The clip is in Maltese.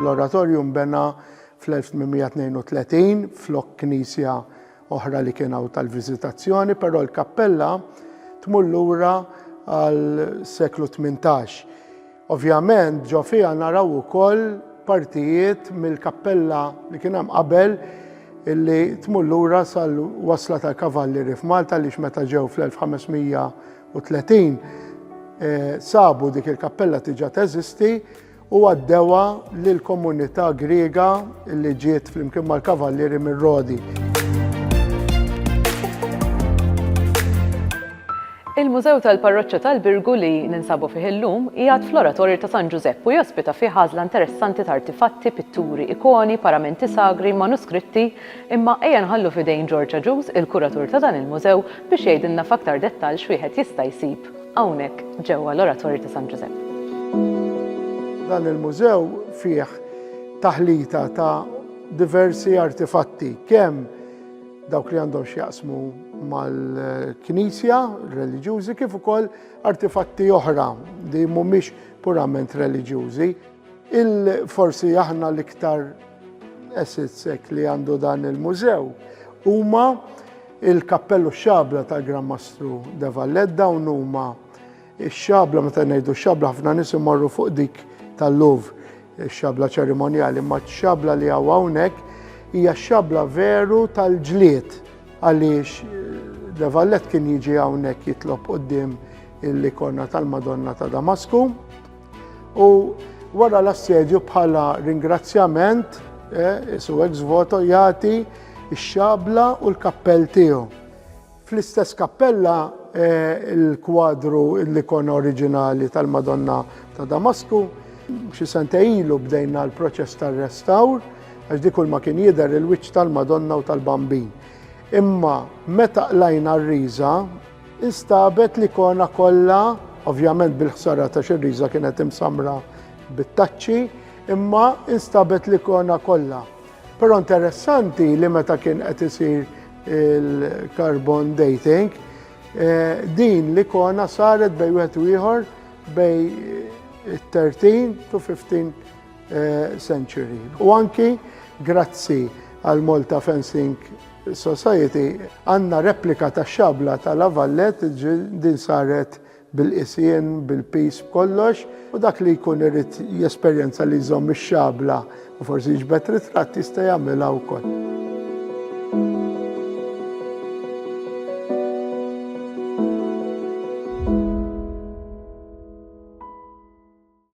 L-oratorju nbena fl-1832 flok knisja oħra li kien hawn tal-viżitazzjoni, però l-kappella tmur lura għal seklu 18. Ovvjament ġo fiha naraw ukoll partijiet mill-kappella li kien hemm qabel illi tmur lura sal-wasla tal-kavallieri f'Malta li meta ġew fl-1500 30 eh, sabu dik il-kappella tiġa teżisti u għaddewa lil komunità Griega li ġiet flimkien mal-kavallieri mir-Rodi. Il-Mużew tal-Parroċċa tal-Birgu li ninsabu fih illum jgħad fl-oratorju ta' San Ġużepp u jospita fih ħażla interessanti ta' artifatti, pitturi, ikoni, paramenti sagri, manuskritti, Imma ejja nħallu f'idejn George Agius, il-kuratur ta' dan il-mużew, biex jgħidilna f'aktar dettall x'wieħed jista' jsib hawnhekk ġewwa l-Oratorju ta' San Ġużepp. Dan il-mużew fih taħlita ta' diversi artifatti, kemm dawk li għandhom x'jaqsmu mal-knisja, reliġjużi, kif ukoll artifatti oħra li mhumiex purament reliġjużi. Il-forsi aħna l-iktar assets li għandu dan il-mużew huma il-kappellu xabla ta' Gran Mastru de Vallet dawn huma x-xabla meta ngħidu x-xabla ħafna nies imorru fuq dik tal-Louvre xabla ċerimonjali, ma xabla li għaw hawnhekk hija xabla veru tal-ġlied għaliex De eh, Vallet kien jiġi hawnhekk jitlob qudiem l-ikona tal-Madonna ta' Damasku. U wara l-assedju bħala ringrazzjament, eh, isu ex voto jagħti x-xabla u l-kappell tiegħu. Fl-istess kappella eh, il-kwadru l-ikona oriġinali tal-Madonna ta' Damasku, xi sente ilu bdejna l-proċess tar-restawr, għax dik ma kien jidher il-wiċċ tal-Madonna u tal-Bambin. Imma meta qlajna r-riża, Instabet l-ikona kollha, ovvjament bil-ħsara ta' xirriża kienet imsamra bit-taċċi, imma instabet l-ikona kollha. Però interessanti li meta kien qed isir il-carbon dating, eh, din l-ikona saret bej wieħed u ieħor bej 13 to 15 eh, century. U anki grazzi għal Malta Fencing Society għandna replika tax-xabla ta' La Valette, din saret bil-qisien, bil-piż, b'kollox, u dak li jkun irid jesperjenza li jżomm ix-xabla u forsi jiġbed ritratt jista' jagħmilha wkoll.